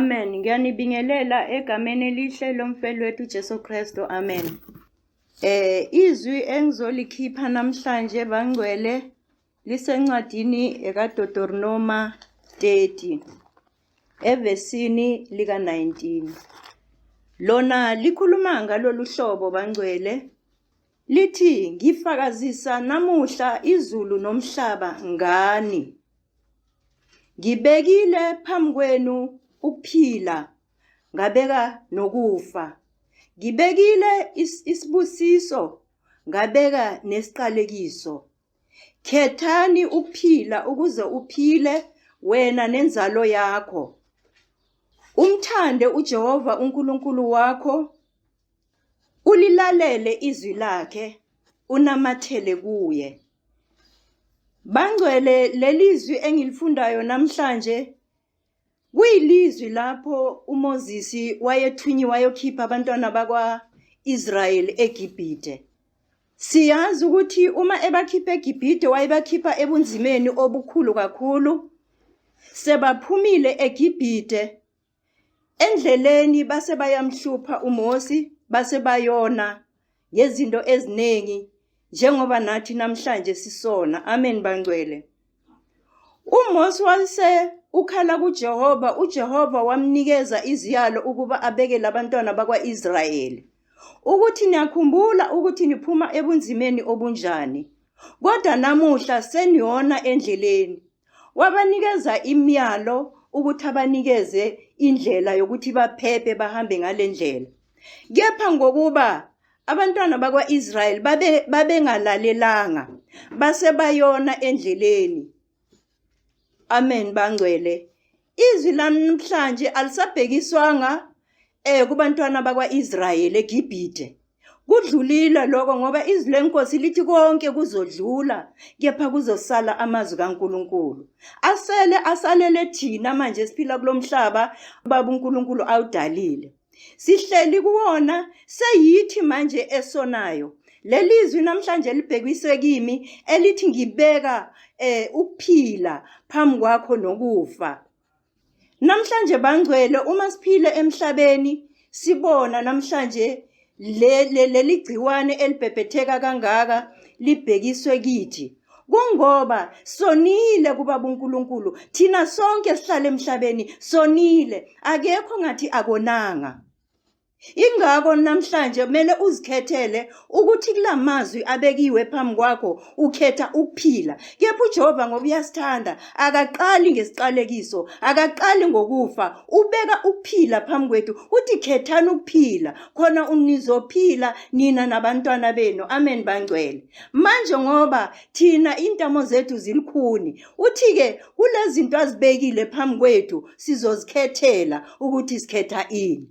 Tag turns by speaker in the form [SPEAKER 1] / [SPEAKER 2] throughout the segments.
[SPEAKER 1] Amen. Ngiyanibingelela egameni elihle lomfelwethu uJesu Kristu. Amen. Eh izwi engizolikhipha namhlanje bangcwele lisencwadini ekaDotorinoma 30 evesini lika-19. Lona likhuluma ngalolu hlobo bangcwele lithi ngifakazisa namuhla izulu nomhlaba ngani. Ngibekile phambi kwenu ukuphila ngabeka nokufa. Ngibekile isibusiso, ngabeka nesiqalekiso. Khethani ukuphila ukuze uphile wena nenzalo yakho. Umthande uJehova uNkulunkulu wakho, ulilalele izwi lakhe, unamathele kuye. Bangcwele lelizwi engilifundayo namhlanje Kuyilizwi lapho uMozisi wayethunyiwe wayokhipha abantwana bakwa-Israyeli eGibhide. Siyazi ukuthi uma ebakhipha eGibhide wayebakhipha ebunzimeni obukhulu kakhulu. Sebaphumile eGibhide endleleni base bayamhlupha uMosi base bayona ngezinto eziningi njengoba nathi namhlanje sisona amen bangcwele uMose wase ukhala kuJehova uJehova wamnikeza iziyalo ukuba abeke labantwana bakwaIsrayeli ukuthi niyakhumbula ukuthi niphuma ebunzimeni obunjani kodwa namuhla seniyona endleleni Wabanikeza imiyalo ukuthi abanikeze indlela yokuthi baphephe bahambe ngale ndlela. Kepha ngokuba abantwana bakwa-Israyeli babengalalelanga base bayona endleleni. Amen bangcwele. Izwi lami namhlanje alisabhekiswanga eh kubantwana bakwaIsrayeli eGibhithe. Kudlulile lokho ngoba izwi lenkosi lithi konke kuzodlula kepha kuzosala amazwi kaNkuluNkulu. Asele asalele thina manje siphila kulomhlaba baba uNkuluNkulu awudalile. Sihleli kuwona seyithi manje esonayo. Lelizwi namhlanje libhekiswe kimi elithi ngibeka eh ukuphila phambi kwakho nokufa. Namhlanje bangcwele uma siphile emhlabeni sibona namhlanje leli gciwane elibhebhetheka kangaka libhekiswe kithi. kungoba sonile kubaba uNkulunkulu thina sonke sihlale emhlabeni sonile akekho ngathi akonanga ingakho namhlanje kumele uzikhethele ukuthi kulamazwi abekiwe phambi kwakho ukhetha ukuphila kepha uJehova ngoba uyasithanda akaqali ngesiqalekiso akaqali ngokufa ubeka ukuphila phambi kwethu uthi khethani ukuphila khona unizophila nina nabantwana benu amen bangcwele manje ngoba thina intamo zethu zilikhuni uthi-ke kulezinto azibekile phambi kwethu sizozikhethela ukuthi sikhetha ini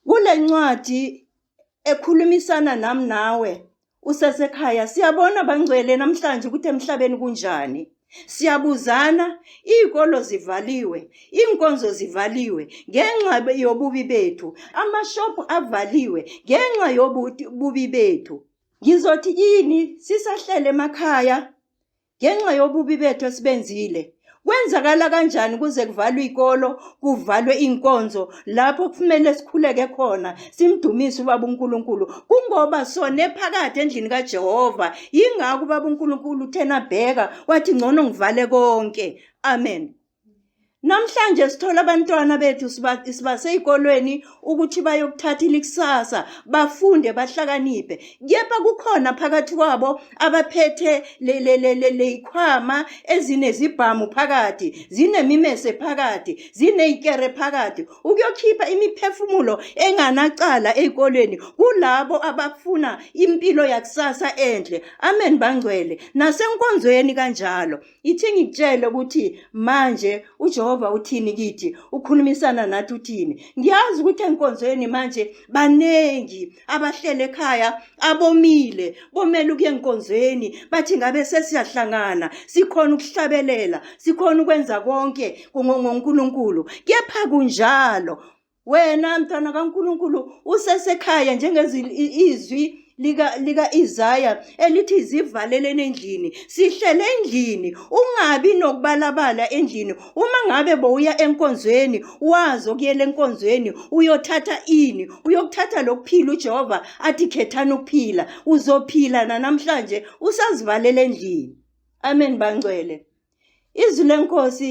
[SPEAKER 1] kule ncwadi ekhulumisana nami nawe usesekhaya siyabona bangcwele namhlanje ukuthi emhlabeni kunjani siyabuzana iy'kolo zivaliwe iy'nkonzo zivaliwe ngenxa yobubi bethu amashophu avaliwe ngenxa yobubi bethu Ngizothi yini sisahlele emakhaya ngenxa yobubi bethu esibenzile? Kwenzakala kanjani kuze kuvalwe ikolo, kuvalwe inkonzo lapho kufanele sikhuleke khona simdumise ubaba uNkulunkulu kungoba sone phakathi endlini kaJehova. Ingakho ubaba uNkulunkulu uthena bheka wathi ngcono ngivale konke. Amen. Namhlanje sithola abantwana bethu sibase ezikolweni ukuthi bayokuthatha ilikusasa bafunde bahlakaniphe kepha kukhona phakathi kwabo abaphethe lezikhwama ezinezibhamu phakathi zinemimese phakathi zinezikere phakathi ukuyokhipha imiphefumulo enganacala ezikolweni kulabo abafuna impilo yakusasa enhle amen bangcwele nasenkonzweni kanjalo Ithi ngikutshele ukuthi manje uJehova uthini kithi, ukhulumisana nathi uthini. Ngiyazi ukuthi enkonzweni manje baningi abahlele ekhaya abomile, bomele ukuya enkonzweni, bathi ngabe sesiyahlangana, sikhona ukuhlabelela, sikhona ukwenza konke ngoNkulunkulu. Kepha kunjalo wena mntwana kaNkulunkulu usesekhaya njengezizwi lika lika Isaiah elithi zivalelene endlini sihlele endlini ungabi nokubalabala endlini uma ngabe bowuya enkonzweni wazi okuyela enkonzweni uyothatha ini uyokuthatha lokuphila uJehova athi khethana ukuphila uzophila namhlanje usazivalele endlini amen bangcwele izwi lenkosi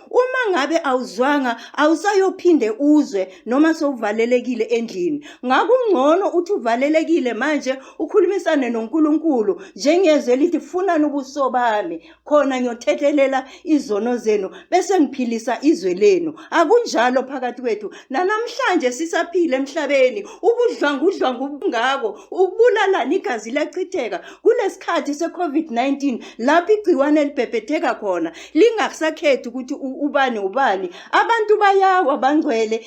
[SPEAKER 1] Uma ngabe awuzwanga awusayophinde uzwe noma sowuvalelekile endlini. Ngakungcono uthi uvalelekile manje ukhulumisane noNkulunkulu njengezwe lithi funani ubuso bami khona ngiyothethelela izono zenu bese ngiphilisa izwe lenu. Akunjalo phakathi kwethu nanamhlanje sisaphila emhlabeni ubudlwangudlwangu obungako ukubulalana igazi liyachitheka kulesikhathi seCovid-19 lapho igciwane libhebhetheka khona lingakusakhethi ukuthi ubani ubani abantu bayawa bangcwele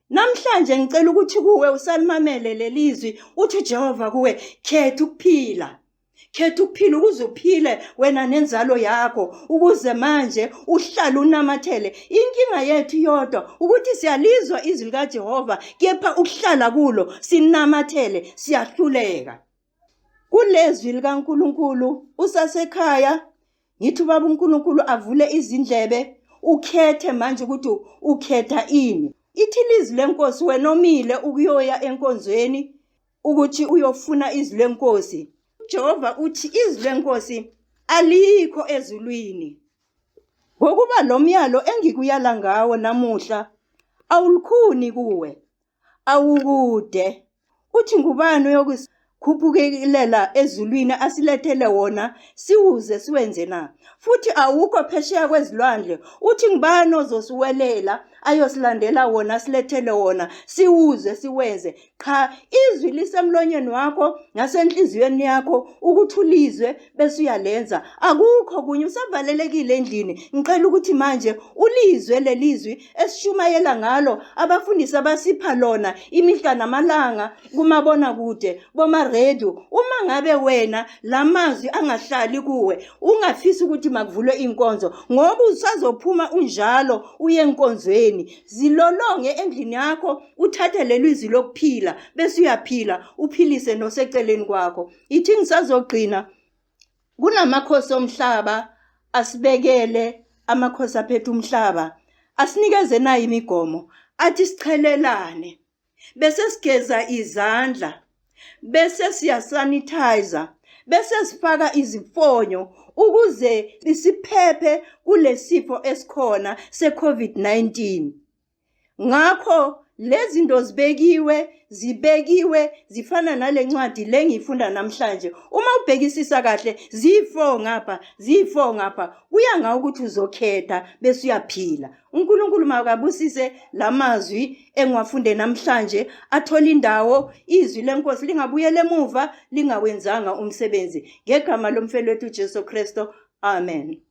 [SPEAKER 1] namhlanje ngicela ukuthi kuwe usalimamele lelizwi uthi uJehova kuwe khetha ukuphila khetha ukuphila ukuze uphile wena nenzalo yakho ukuze manje uhlale unamathele inkinga yethu yodwa ukuthi siyalizwa izwi likaJehova kepha ukuhlala kulo sinamathele siyahluleka kulezwi likaNkulunkulu usasekhaya ngithi ubaba uNkulunkulu avule izindlebe ukhethe manje ukuthi ukhetha ini ithi lizwi lenkosi wena omile ukuyoya enkonzweni ukuthi uyofuna izwi lenkosi uJehova uthi izwi lenkosi alikho ezulwini ngokuba lo myalo engikuyala ngawo namuhla awulukhuni kuwe awukude. Uthi ngubani oyokusikhuphukelela ezulwini asilethele wona siwuze siwenze na? Futhi awukho phesheya kwezilwandle. Uthi ngubani ozosiwelela ayosilandela wona silethele wona siwuze siwenze? Qha izwi lisemlonyeni wakho nasenhliziyweni yakho ukuthulizwe bese uyalenza akukho kunye usavalelekile endlini ngicela ukuthi manje ulizwe lelizwi esishumayela ngalo abafundisi abasipha lona imihla namalanga kumabona kude boma radio uma ngabe wena lamazwi angahlali kuwe ungafisi ukuthi makuvulwe inkonzo ngoba usazophuma unjalo uye enkonzweni zilolonge endlini yakho uthathe lelizwi lokuphila bese uyaphila uphilise noseceleni kwakho ithi ngisazogcina kunamakhosi omhlaba asibekele amakhosi aphethe umhlaba asinikeze nayo imigomo athi sichelelane bese sigeza izandla bese siyasanitizer bese sifaka izifonyo ukuze siphephe kulesifo esikhona seCovid-19 ngakho lezi zinto zibekiwe zibekiwe zifana nale ncwadi le ngiyifunda namhlanje uma ubhekisisa kahle ziyi-four ngapha ziyi-four ngapha kuya ngawo ukuthi uzokhetha bese uyaphila unkulunkulu makabusise la mazwi engiwafunde namhlanje athole indawo izwi lenkosi lingabuyela emuva lingawenzanga umsebenzi ngegama lomfelwethu ujesu kristu amen